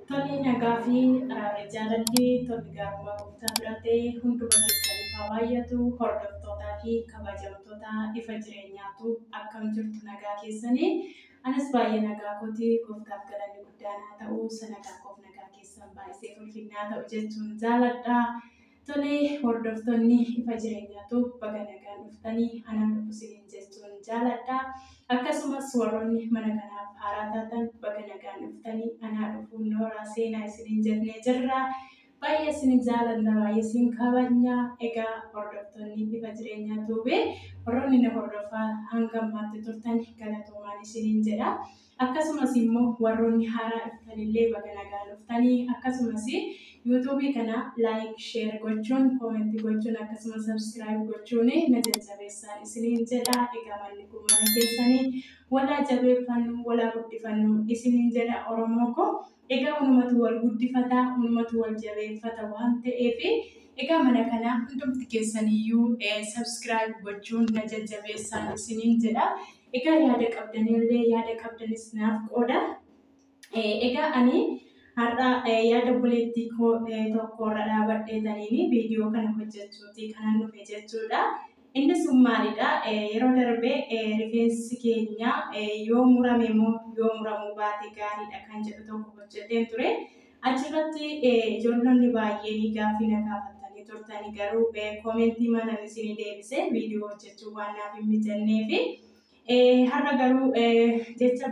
Tole nagaa fi eh, jaalalli tolli gaarummaa gooftaa bira ta'e hunduma keessaniif haa baay'atu hordoftootaa fi kabajamtoota ifa jireenyaatu akkam jirtu nagaa keessanii anas baay'ee nagaa kooti gooftaaf galanni guddaan haa ta'u sanagaa koof nagaa keessan baay'isee ulfinnaa ta'u jechuun jaaladha Tole hordoftonni ifa jireenyaa tube baga nagaan dhuftanii anaan dhufu isiniin jechuun jaaladha. Akkasumas warroonni mana kanaaf haaraa taatan baga nagaan dhuftanii anaa dhufuun nooraa seenaa isiniin jennee jirra. Baay'ee isin jaalanna baay'ee isin kabajna. Egaa hordoftonni ifa jireenyaa tube warroonni na hordofaa hanga ammaatti turtan galatoomaan isiniin jedha. Akkasumas immo warroonni haaraa dhuftan illee baga nagaan dhuftani akkasumas youtube kana like share gochuun comment gochuun akkasumas subscribe gochuun na jajjabeessaa isiniin jedha egaa manni kun mana keessani walaa jabeeffannu walaa guddifannu isiniin jedha oromoo ko egaa unumatu wal guddifata unumatu wal jabeeffata waan ta'eef egaa mana kana hundumti keessaniyyuu subscribe gochuun na jajjabeessaan isiniin jedha Egaa yaada qabdanillee yaada qabdanis naaf qooda. Egaa ani har'a yaada obboleettii koo tokkorra dhaabadhee taniin viidiyoo kana hojjechuuti kanan dhufe jechuudha. Inni sun maalidha? Yeroo darbe rifeensi keenya yoo murame moo yoo muramuu baate gaariidha kan jedhu tokko hojjeteen ture. Achirratti ijoollonni baay'een gaaffii na gaafattanii turtani garuu koomentiimanan isinii deebise viidiyoo hojjechuun waan naaf hin mijanneefi. Har'a garuu jecha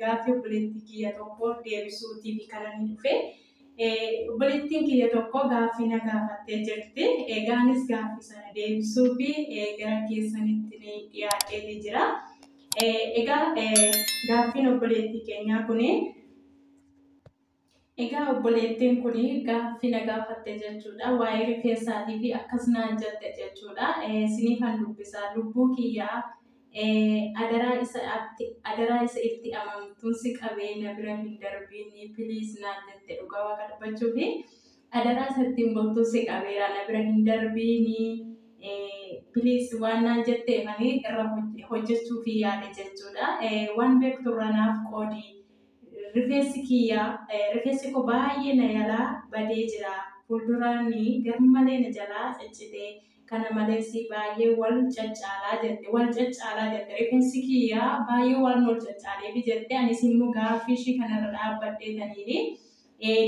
gaaffii obboleettii kiyya tokko deebisuu TV kananii dhufe. Obboleettiin kiyya tokko gaaffii na gaafattee jirti. Egaa anis gaaffii sana deebisuu fi gara keessanitti ni dhiyaadheeti jira. Egaa gaaffiin obboleettii keenyaa kuni Egaa obboleettiin kun gaaffii na gaafatte jechuudha. Waa'ee rifeensaatii fi akkas naan jette jechuudha. Siniifan dubbisaa lubbuu kiyyaa adaraa isa atti adaraa isa itti amamtuun si qabee na bira hin darbiinii piliis naan jette dhugaa waaqa dubbachuu fi adaraa isa ittiin bultuun si qabeera na bira hin darbiinii piliis waan naan jetteefanii irra hojjechuu fi yaade jechuudha. Waan beektu irra naaf qoodii. Rifeensi kiyya rifeensi koo baay'ee na jalaa badee jira. Fuulduraan garmalee na jalaa ciccite. Kana malees baay'ee wal caccaala jette. Wal caccaala jette. Rifeensi kiyya baay'ee waan wal caccaaleef jette. Anis immoo gaaffii ishii kanarra dhaabbadhee taniin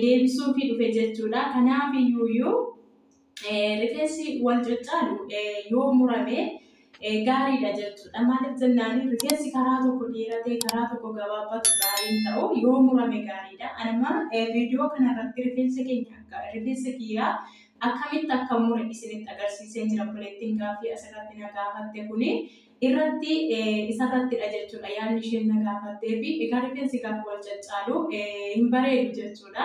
deebisuufii dhufe jechuudha. Kanaaf iyyuu Rifeensi wal caccaalu yoo murame gaariidha jechuudha. Maaliif jennaan rifeensi karaa tokko dheeratee karaa tokko gabaabbatu gaariin ta'u yoo murame gaariidha. Anuma viidiyoo kanarratti rifeensa keenya akka rifeensa kiyyaa akkamitti akka mure isinitti agarsiiseen jira buleettiin gaaffii asirratti na gaafatte kuni irratti isarrattidha jechuudha yaadni isheen na gaafattee fi egaa rifeensi gaafa wal caccaalu hin bareedu jechuudha.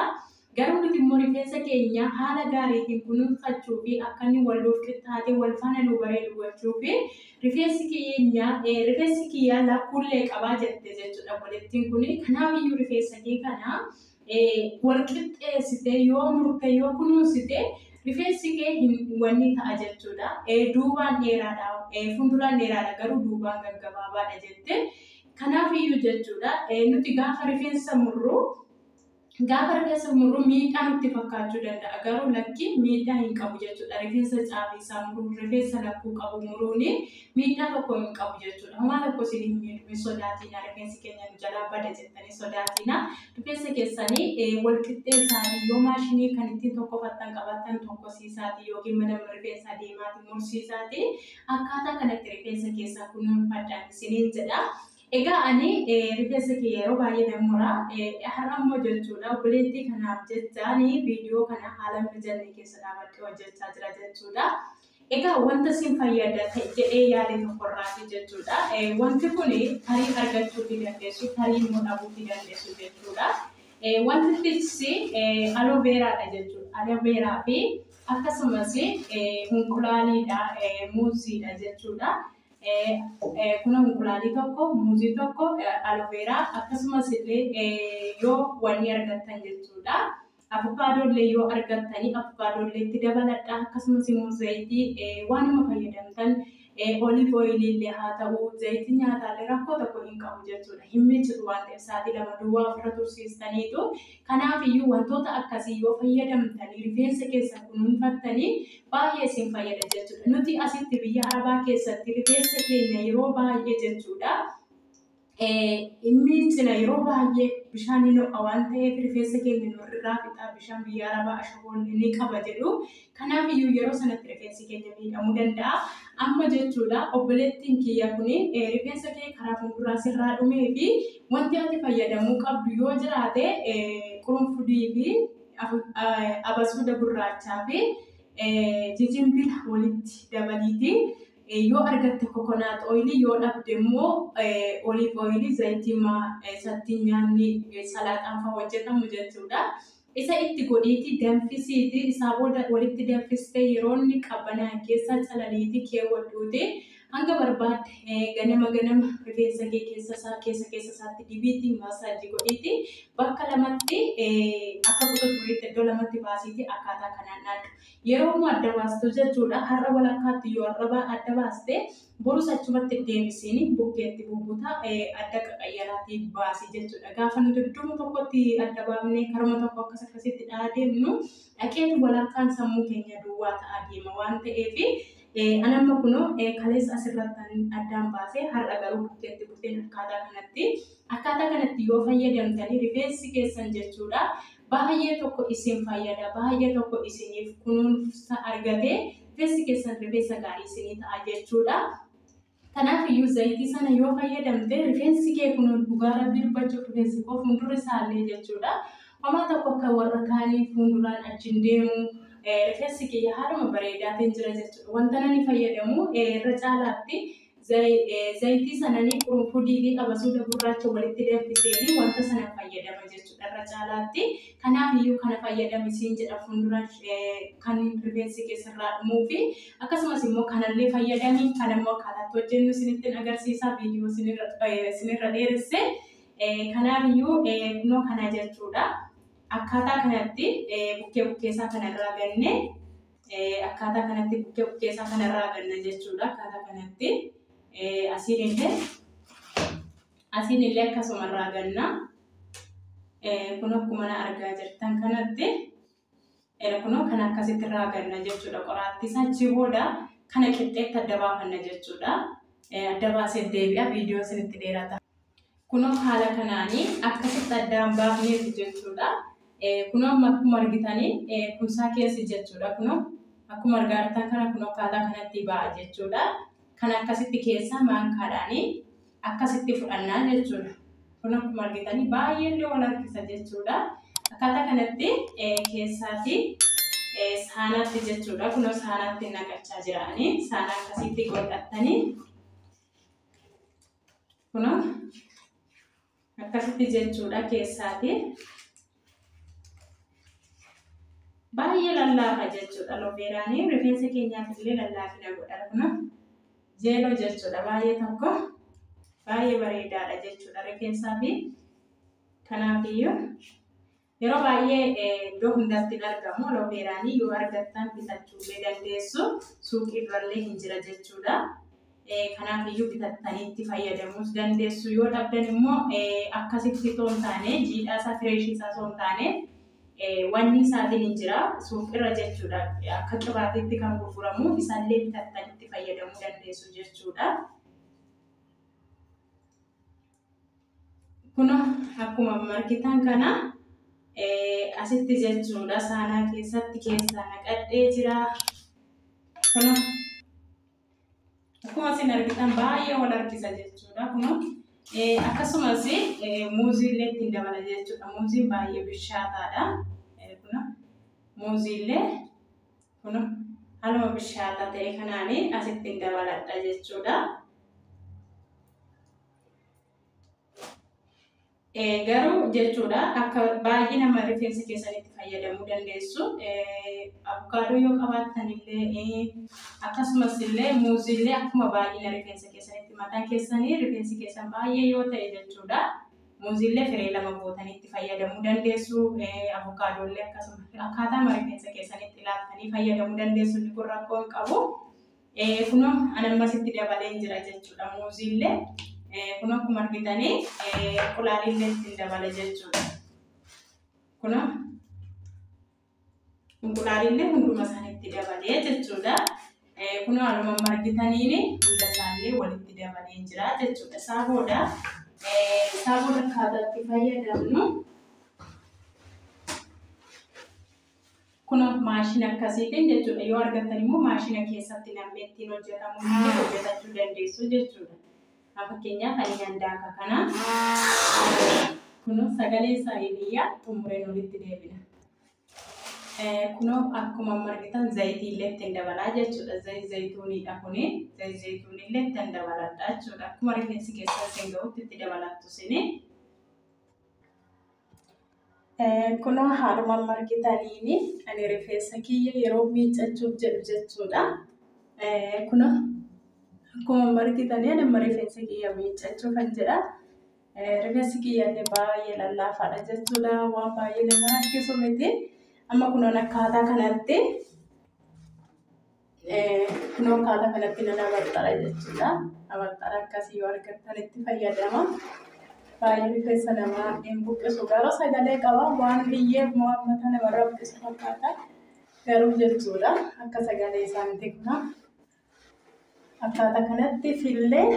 Garuu nuti immoo rifeensa keenya haala gaariitiin kunuunfachuu fi akka inni wal nuuf qixxaatee wal faana nuu bareedu gochuu fi rifeensi keenya eh, rifeensi kiyya lakkuullee qabaa jette jechuudha obboleettiin kun. Kanaaf iyyuu rifeensa kee kana eh, wal qixxeessitee yoo murte yoo kunuunsite rifeensi kee hin wanni ta'a jechuudha. Eh, duubaan dheeraadha, eh, fuulduraan dheeraadha garuu duubaan gaggabaabaadha jette. Kanaaf iyyuu jechuudha eh, nuti gaafa rifeensa murru Gaafa rifeensa murru miidhaa nutti fakkaachuu danda'a. Garuu lakkii miidhaa hin qabu jechuudha. Rifeensa caabiisaa muruun, rifeensa lakkuu qabu muruun miidhaa tokko hin qabu jechuudha. Homaa tokko isin hin miidhu, hin sodaatiina. Rifeensi keenya nu jalaa bada jettanii sodaatiina. Rifeensa keessanii wal qixxeessaatii yoo maashinii kan ittiin tokkofattan qabattan tokkosiisaatii yookiin mana rifeensaa deemaatii mursiisaatii akkaataa kanatti rifeensa keessan kunuunfadhaan isiniin jedha. Egaa ani rifeensa kiyya yeroo baay'ee nan mura. Har'a immoo jechuudha obboleettii kanaaf jechaan viidiyoo kana haala hin mijanne keessa dhaabadhee hojjechaa jira jechuudha. Egaa wanta sin fayyada jedhee yaade tokkorraati jechuudha. Wanti kun tarii argachuu fi dandeessu, tarii immoo dhabuu fi dandeessu jechuudha. Wanti tiksi aloo beeraadha jechuudha. Aloo beeraa fi akkasumas hunqulaaliidha, muuziidha jechuudha. Kunoo inqulaalii tokko, muuzii tokko, aloveeraa akkasumas illee yoo wanni argattan jechuudha. Abukaadoo illee yoo argattanii abukaadoo illee itti dabaladha. Akkasumas immoo zayitii waanuma fayyadamtan oliif ooyilii illee haa ta'u zayitii nyaataa illee rakkoo tokko hin qabu jechuudha. Hin miicitu waan ta'eef sa'aatii lama duwwaa ofirra tursiistaniitu Kanaaf iyyuu wantoota akkasii yoo fayyadamtanii rifeensa keessan kunuunfattanii baay'ee isin fayyada jechuudha. Nuti asitti biyya arabaa keessatti rifeensa keenya yeroo baay'ee jechuudha hin miiccina yeroo baay'ee bishaan hin ho'a waan ta'eef rifeensa keenya nu irraa fixaa bishaan biyya arabaa ashaboon ni qaba jedhu Kanaaf iyyuu yeroo sanatti rifeensi keenya miidhamuu danda'a. Amma jechuudha obboleettiin kiyya kun rifeensa kee karaa fuulduraa sirraa dhumee fi wanti ati fayyadamuu qabdu yoo jiraate qurunfudii fi abasuuda gurraachaa fi jijinbila walitti dabaliiti. Yoo argatte kokonaat ooyilii yoo dhabde immoo oliif ooyilii zayitii isattiin nyaanni salaaxaan fa'aa hojjetamu jechuudha. Isa itti godhiitii danfisiiti, isaa booda walitti danfistee yeroo inni qabbanaa'e keessa calaliitii keewwadhuutii hanga barbaadde ganama ganama rifeensa kee keessa isaa keessa keessa isaatti dibiitii maasaaji godhiitii bakka lamatti akka kuta furiitti iddoo lamatti baasiitii akkaataa kanaan dhaadhu. Yeroo immoo adda baastu jechuudha har'a walakkaatti yoo arrabaa adda baaste Borus achumatti deebisiin bukkeetti bubbuta, adda qaqayyaraatii baasi jechuudha. Gaafa nuti iddoo tokkotti adda baafnee karuma tokko akkas akkasitti dhahaa deemnu dhaqeetu walakkaan sammuu keenya duwwaa ta'aa deema waan ta'eef an amma kunoo kaleessa asirratti addaan baasee har'a garuu bukkeetti buteen akkaataa kanatti akkaataa kanatti yoo fayyadamtanii rifeensi keessan jechuudha baay'ee tokko isin fayyada baay'ee tokko isiniif kunuunsa argatee rifeensi keessan rifeensa gaarii isinii ta'a jechuudha. Kanaaf iyyuu zayitii sana yoo fayyadamte rifeensi kee kun dhugaa rabbii dubbachuuf rifeensi koo fuuldurri isaallee jechuudha. Homaa tokko akka warra kaanii fuulduraan achiin deemu rifeensi kiyya haaluma bareedaatiin jira jechuudha. Wanta nani fayyadamu irra caalaatti Zayitii sananii qurunfudii fi abasuuda gurraacha walitti danfiseeni wanta sana fayyadama jechuudha irra caalaatti. Kanaaf iyyuu kana fayyadami siin jedha fuuldura kan rifeensi kee sirraa dhumuu fi akkasumas immoo kanallee fayyadami kan immoo akkaataa itti hojjennu sinittin agarsiisa viidiyoo sinirra dheeresse. Kanaaf iyyuu kunoo kana jechuudha. Akkaataa kanatti bukkee bukkee isaa kanarraa gannee Akkaataa kanatti bukkee bukkee isaa kanarraa ganna jechuudha. Akkaataa kanatti asiin illee asiin illee akkasuma irraa ganna. Kun akkuma na argaa jirtan kanatti kunoo kan akkasitti irraa ganna jechuudha. Qoraattii isaa achi booda kana qixxeetti adda baafanna jechuudha. Adda baasee deebi'a viidiyoo isinitti dheerata. Kunoo haala kanaani akkasitti addaan baafneeti jechuudha. Kunoo amma akkuma argitani kunsaa keessi jechuudha kunoo akkuma argaa jirtan kana kunoo akkaataa kanatti ba'a jechuudha. Kan akkasitti keessaa maankaadhaani akkasitti fudhannaa jechuudha. Kun akkuma argitani baay'ee illee wal harkisa jechuudha. Akkaataa kanatti keessaati saanaatti jechuudha. Kunoo saanaatti naqachaa jiraani. Saana akkasitti godhattanii Kuno akkasitti jechuudha keessaati. Baay'ee lallaafa jechuudha lobeeraanii rifeensa keenyaaf illee lallaafina godhara kuno jeeloo jechuudha baay'ee tokko baay'ee bareedaadha jechuudha rifeensaa fi kanaafiyyuu Yeroo baay'ee iddoo hundatti hin argamu. Alooveeraanii yoo argattan bitachuu illee dandeessu. Suuqii birallee hin jira jechuudha. Kanaaf iyyuu bitattanii itti fayyadamuus dandeessu. Yoo dhabdan immoo akkasitti osoo hin taane jiidhaa isaa fireeshii isaa osoo hin taane wanni isaatiin hin jira. Suuqirra jechuudha. Akka qibaatiitti kan gurguramu isallee bitattanii itti fayyadamuu dandeessu jechuudha. Kuna akkuma markitan kana asitti jechuudha saanaa keessatti keessaa naqadhee jira. Kuna akkuma isin argitan baay'ee wal harkisa jechuudha. Kuna akkasumas muuzii illee ittiin dabala jechuudha. Muuziin baay'ee bishaataadha. Kuna muuzii illee Kunoo haaluma bishaataa ta'e kanaan asitti hin dabaladha jechuudha. Garuu jechuudha akka baay'ee nama rifeensa keessanitti fayyadamuu dandeessu. Abukaadoo yoo qabaattan illee akkasumas illee muuzii illee akkuma baay'ina rifeensa keessanitti mataa keessanii rifeensi keessan baay'ee yoo ta'e jechuudha. Muuziillee firee lama gootanii itti fayyadamuu dandeessu. Avokaadoollee akkasuma akkaataa marifeensa keessanitti ilaaltanii fayyadamuu dandeessu. Inni kun rakkoo hin qabu. Kunoo anammas itti dabalee jira jechuudha. Muuziillee kunoo akkuma argitanii qulaaliillee ittiin dabala jechuudha. Kunoo Inqulaalillee hunduma isaanitti dabalee jechuudha. Kunoo anuma amma argitaniin hunda isaallee walitti dabalee jira jechuudha. Isaa booda isaa booda akkaataa itti fayyadamnu kunoo maashina akkasiitiin jechuudha. Yoo argattan immoo maashina keessatti namni ittiin hojjetamu hojjetachuu dandeessu jechuudha. Haa fakkeenyaaf ani handaaka kana kunoo sagalee isaa iliyyaa xumureen olitti deebina. Kunoo akkuma amma argitan zayitii illee ittiin dabalaa jechuudha. Zayit zayituuniidha kuni. Zayit zayituunii illee ittiin dabaladha jechuudha. Akkuma rifeensi keessaa isin ga'utti itti dabalattu isin. Kunoo haaluma amma argitaniini ani rifeensa kiyya yeroo miiccachuuf jedhu jechuudha. Kunoo akkuma amma argitanii ani amma rifeensa kiyya miiccachuu kan jedha. Rifeensi kiyya illee baay'ee lallaafaadha jechuudha. Waan baay'ee nama rakkisu miti. Amma kunoon akkaataa kanatti Kunoo haala kanatti nan abarxara jechuudha. Abarxara akkasii yoo argattan itti fayyadama. Baay'ee rifeensa namaa hin buqqisu. Garuu sagalee qaba. Waan biyyee immoo hammata namarra buqqisu fakkaata. Garuu jechuudha akka sagalee isaan beekna. Akkaataa kanatti fillee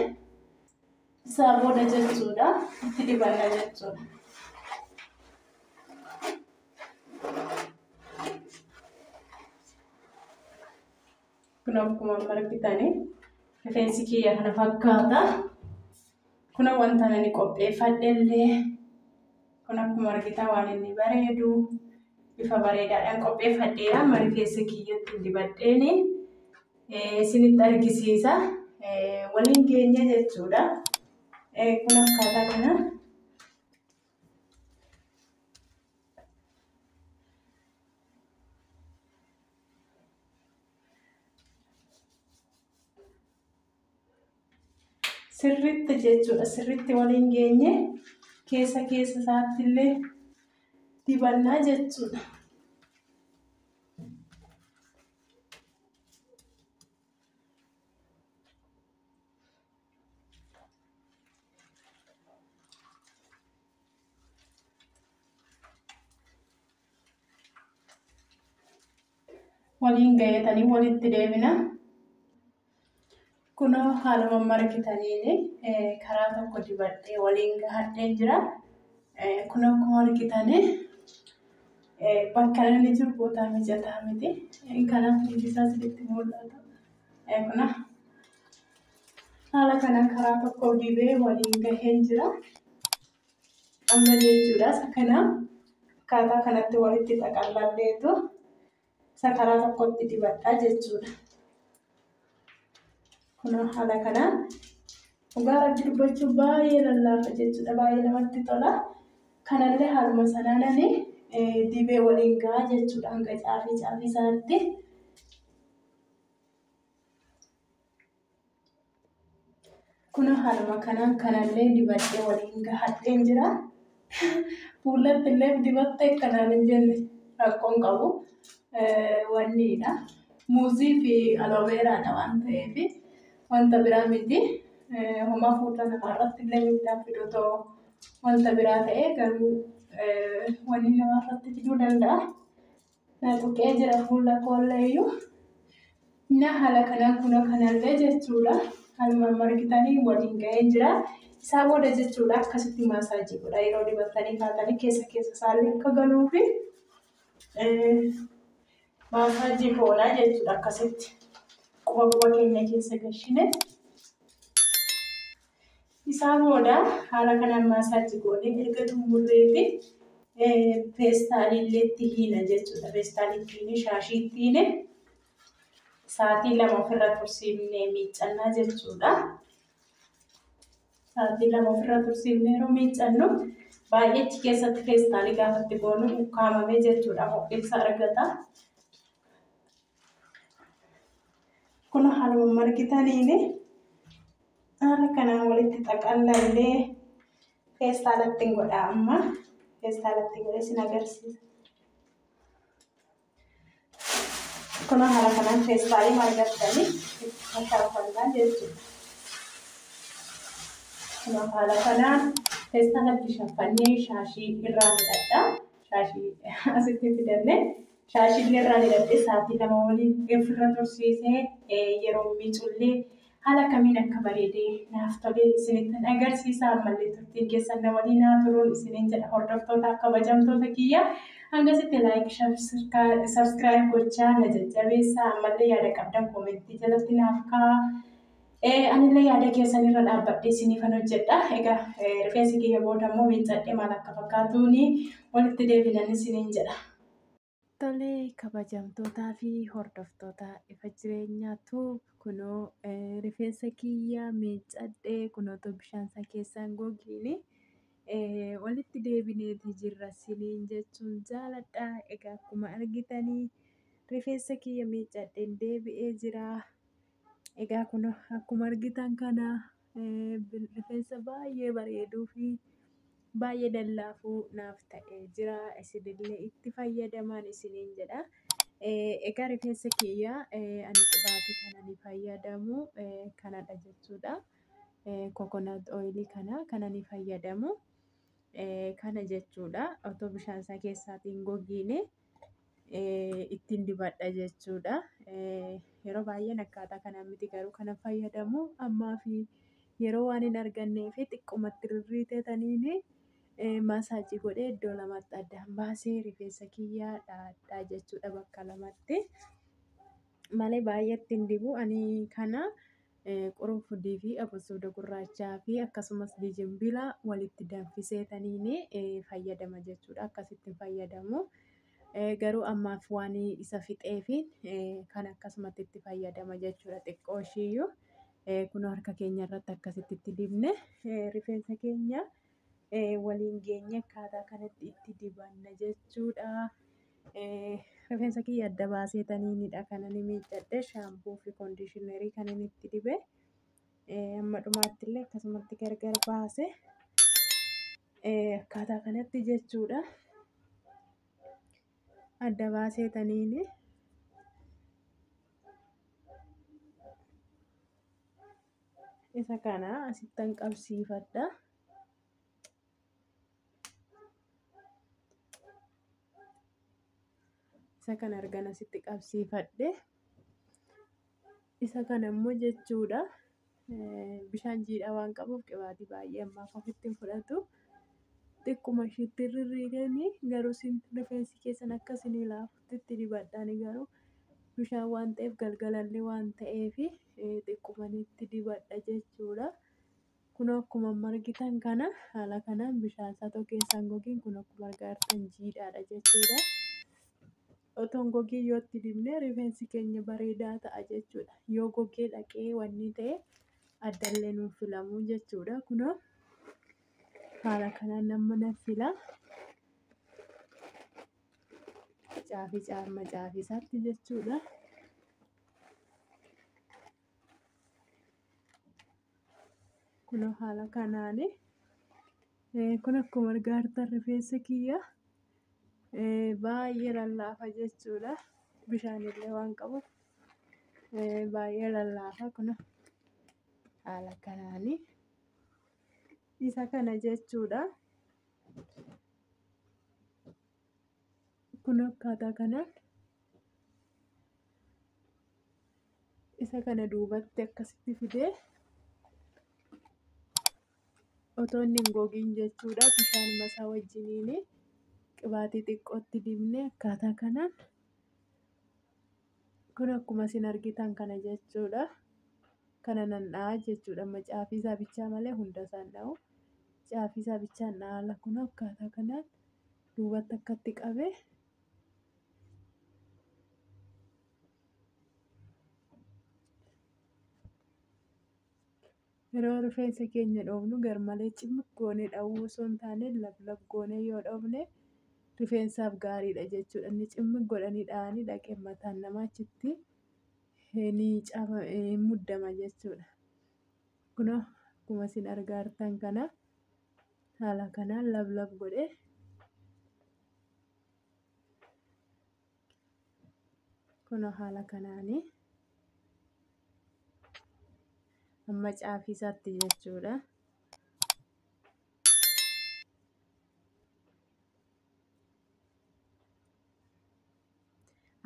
Isaa booda jechuudha. Itti dibanna jechuudha. Kun akkuma amma argitani rifeensi kiyya kana fakkaata. Kun wanta ani qopheeffadhellee kun akkuma argitan waan inni bareedu bifa bareedaadhaan qopheeffadheera. Amma rifeensa kiyyatti dibadheeni isinitti argisiisa. Waliin geenye jechuudha. Kun akkaataa kana. Sirriitti jechuudha. Sirriitti waliin geenye keessa keessa isaatti illee dibannaa jechuudha. waliin gayatanii walitti deebina. Kunoo haaluma margitaniin karaa tokko dibadhee waliin gahadheen jira. Kun akkuma argitanii bakka inni jiru bootaa mijataa miti. Kanaaf hundi isaa isinitti mul'ata. Kuna haala kana karaa tokko dibee waliin gaheen jira. Amma jechuudhaas kana akkaataa kanatti walitti xaqallalleetu. isa karaa tokkotti dibadha jechuudha. Kun haala kanaan dhugaa rabbi dubbachuu baay'ee lallaafa jechuudha. Baay'ee namatti tola. Kanallee haaluma sanaanani dibee waliin gahaa jechuudha hanga caafii caafii isaatti. Kun haaluma kanaan kanallee dibadhee waliin gahadheen jira. Fuulatti illee dibattee kanaan hin jenne rakkoon qabu wanniidha. Muuzii fi alooveeraadha waan ta'eef wanta biraa miti. Homaa fuula namaarratti illee miidhaan fiduu ta'u wanta biraa ta'ee garuu wanni namaarratti fiduu danda'a. Na tuqee jira fuula koolleeyyuu. Na haala kanaan kunoo kanallee jechuudha. Haaluma amma argitanii waliin ga'ee jira. Isaa booda jechuudha akkasitti maasaajii godha yeroo dibattanii kaatanii keessa keessa isaallee akka galuu fi maasaajii goona jechuudha akkasitti. Quba quba keenya keessa gashine. Isaa booda haala kanaan maasaajii goonee erga xumurreeti peestaalillee itti hiina jechuudha. Peestaalii itti hiine shaashii itti hiine saatii lama ofirra tursiifnee miiccannaa jechuudha. Saatii lama ofirra tursiifnee yeroo miiccannu baay'eechi keessatti peestaalii gaafatti goonu ukkaamamee jechuudha ho'insa argata. Kun haaluma margitaniin haala kanaan walitti xaqallallee feestaalatti hin godhaa amma feestaalatti godhee sin agarsiisa. Kun haala kanaan feestaalii margattanii itti facaafannaa jechuudha. Kun haala kanaan feestaalatti shaffannee shaashii irraa hidhadhaa. Shaashii asitti fidannee. Shaashillee irraa hidhadhee sa'aatii lama waliin ofirra tursiisee yeroon miicullee haala akkamiin akka bareedee naaf tole isinittan agarsiisa. Ammallee turtiin keessan na waliin haa turuun isiniin jedha hordoftootaaf kabajamtoota kiyya. Hangasitti laayik sabskiraayib gochaa na jajjabeessa. Ammallee yaada qabdan koomentii jalatti naaf kaa'aa. Anillee yaada keessan irra dhaabbadhee isiniifan hojjedha. Egaa rifeensi kiyya booda immoo miiccadhee maal akka fakkaatuuni walitti deebinan isiniin jedha. Tole kabajamtootaa fi hordoftoota ifa jireenyaa tuub kunoo eh, rifeensa kiyya miiccadhe kunootu bishaan isaa keessaan gogiini eh, walitti deebineeti jirra siniin jechuun jaaladha. Egaa akkuma argitanii rifeensa kiyya miiccadheen deebi'ee jira. Egaa kun akkuma argitan kana rifeensa baay'ee bareeduu fi baay'ee dallaafuu naaf ta'ee jira. Isinillee itti fayyadamaan isiniin jedha. Egaa rifeensa kiyya ani qibaatii kana ni fayyadamu kanadha jechuudha. Kokonaat ooyilii kana kana ni fayyadamu kana jechuudha. Otoo bishaan isaa keessaatiin gogiinee. ittiin dibadha jechuudha. Yeroo baay'een akkaataa kanaan miti garuu kana fayyadamu ammaa fi yeroo waan hin argannee fi xiqqumatti rirriitetaniin maasaajii godhee iddoo lamatti addaan baasee rifeensa kiyyaa dhaadhaa jechuudha bakka lamatti. Malee baay'ee ittiin dibu ani kana Qurunfudii fi abasuuda gurraachaa fi akkasumas jijimbila walitti danfisee taniin fayyadama jechuudha. Akkasitti fayyadamu. Garuu ammaaf waan isa fixee fi kan akkasumatti itti fayyadama jechuudha. Xiqqoo ishiiyyuu kun harka keenya irratti akkasitti itti dibne rifeensa keenya. waliin geenye akkaataa kanatti itti dibanna jechuudha. Rifeensa kiyya adda baasee taniinidha kan ani miiccadhe shaampuu fi kondiishinarii kan ani itti dibe. Amma dhumaatti illee akkasumatti gargar baase akkaataa kanatti jechuudha. Adda baasee taniini. Isa kana asittan qabsiifadha. Isa kana argan asitti qabsiifadhe. Isa kana immoo jechuudha bishaan jiidhaa waan qabuuf qibaatii baay'ee ammaaf ofitti hin fudhatu. Xiqquma ishiitti rirriiganii garuu rifeensi keessan akka isinii laafu. itti dibadhaani garuu bishaan waan ta'eef galgalallee waan ta'eef xiqqumani itti dibadha jechuudha. Kun akkuma margitan kana haala kanaan bishaan satoo keessaan gogiin kun akkuma argaartan jiidhaadha jechuudha. Otoon gogii yoo itti dibnee rifeensi keenya bareedaa ta'a jechuudha. Yoo gogee dhaqee wanni ta'e addallee nuuf filamuu jechuudha. Kunoo haala kanaan nama na fila. Caafi caamma caafi isaatti jechuudha. Kun haala kanaan kun akkuma argaa jirtan rifeensi kiyya baay'ee lallaafa jechuudha. Bishaan illee waan qabuuf baay'ee lallaafa kun haala kanaan isa kana jechuudha. kun akkaataa kanaan isa kana duubatti akkasitti fidee otoo inni hin gogiin jechuudha bishaan masaa wajjiniin qibaatii xiqqootti dibnee akkaataa kanaan Kun akkuma isin argitan kana jechuudha. Kana nan dha'a jechuudha. Amma caafii isaa bichaa malee hunda isaa hin dha'u. Caafii isaa bichaan dhaala kun akkaataa kanaan duubatti akkatti qabe. Yeroo rifeensa keenya dhoofnu garmalee cimmiq goonee dhahuu osoo hin taane lablab goonee yoo dhoofne rifeensaaf gaariidha jechuudha. Inni cimmiq godhanii dhahanii dhaqee mataan namaa achitti ni caba ni muddama jechuudha. Kunoo akkuma isin argaa jirtan kana haala kanaan lablab godhee Kunoo haala kanaani amma caafii isaatti jechuudha.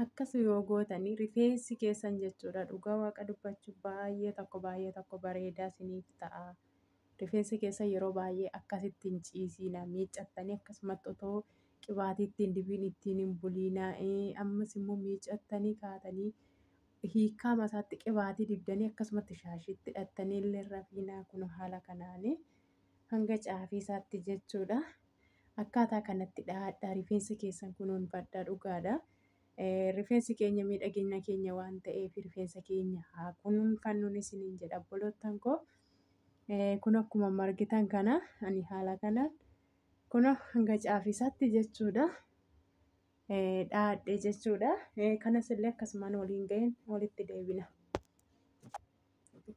Akkas yoo gootanii rifeensi keessan jechuudha dhugaa waaqa dubbachuuf baay'ee tokko baay'ee tokko bareedaa isiniif ta'a. Rifeensa keessan yeroo baay'ee akkasitti hin ciisiina. Miiccattanii akkasumatti otoo qibaatii ittiin dibiin ittiin hin buliina. Ammas immoo miiccattanii kaatanii hiikaa masaatti qibaatii dibdanii akkasumatti shaashiitti hidhattanii illee rafiinaa kun haala kanaanii hanga caafii isaatti jechuudha. Akkaataa kanatti dhaadhaa rifeensa keessan kunuunfadhaa dhugaadha. Rifeensi keenya miidhagina keenya waan ta'eef rifeensa keenya haa kunuunfannuun isiniin jedha obboloottan koo. Kun akkuma margitan kana ani haala kanaan kun hanga caafisaatti jechuudha. Dhaadhe jechuudha. Kanas illee akkasumaan waliin ga'een walitti deebina.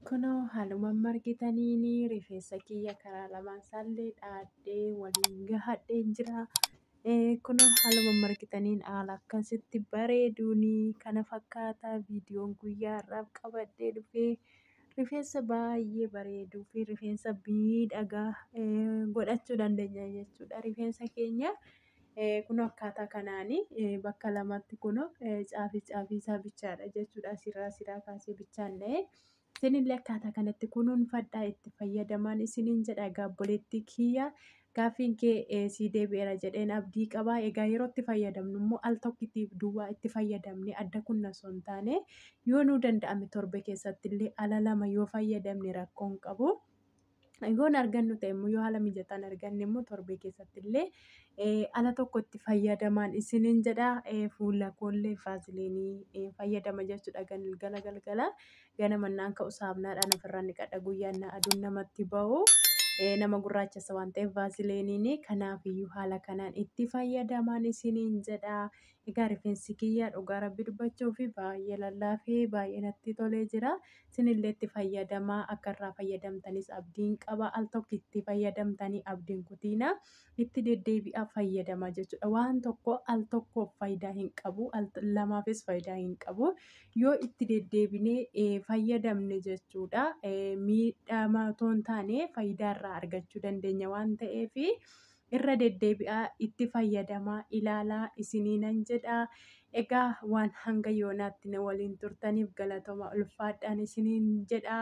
Kunoo haaluma amma argitaniin rifeensa kiyya karaa lamaan isaallee dhaadhee waliin gahadhee jira. Eh, Kunoo haaluma amma argitaniin haala akkasitti bareeduun kana fakkaata viidiyoon guyyaa har'aaf qabadhee dhufee rifeensa baay'ee bareeduu fi rifeensa miidhagaa eh, godhachuu dandeenya jechuudha rifeensa keenya. Kunoo akkaataa kanaan bakka lamatti kunoo caafii caafii isaa bichaadha jechuudha. Asirraa asirraa kaasee bichaan dha'ee. Isinillee akkaataa kanatti kunuunfadhaa itti fayyadamaan isiniin jedha egaa obboleettii kiyya gaaffiin kee eh, sii deebi'eera jedheen abdii qaba. Egaa yeroo itti fayyadamnu immoo al tokkitiif duwwaa itti fayyadamne adda kunna osoo hin taane yoo nuu danda'ame torbe keessatti illee ala lama yoo fayyadamne rakkoon qabu. Yoon argannu ta'e immoo yoo haala mijataan arganne immoo torbee keessatti illee eh, ala tokkotti fayyadamaan isiniin jedha Eh, fuula koollee vaaziliinii eh, fayyadama jechuudha galgala galgala ganama naan ka'u saamnaadhaan ofirraa niqadha guyyaan na aduun namatti ba'u Eh, nama gurraachessa waan ta'eef vaaziliiniin kanaafiyyuu haala kanaan itti fayyadamaan isiniin jedha Egaa rifeensi kiyya dhugaa rabbi dubbachuuf baay'ee lallaafee baay'ee natti tolee jira. Isinillee itti fayyadamaa akka irraa fayyadamtanis abdiin qaba. Al tokko itti fayyadamtanii abdiin kutiina itti deddeebi'aa fayyadamaa jechuudha. Waan tokko al tokkoof faayidaa hin qabu. Al lamaafis faayidaa hin qabu. Yoo itti deddeebinee eh, fayyadamne jechuudha. Eh, miidhama otoo hin taane faayidaa irraa argachuu dandeenya waan ta'eef irra deddeebi'aa itti fayyadamaa ilaalaa isiniinan jedha. Egaa waan hanga yoonaatti na waliin turtaniif galatoma ulfaadhaan isiniin jedha.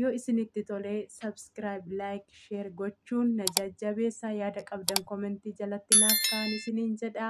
Yoo isinitti tolee subscribe, like, share gochuun na jajjabeessa. Yaada qabdan komentii jalatti naaf kaa'aa isiniin jedha.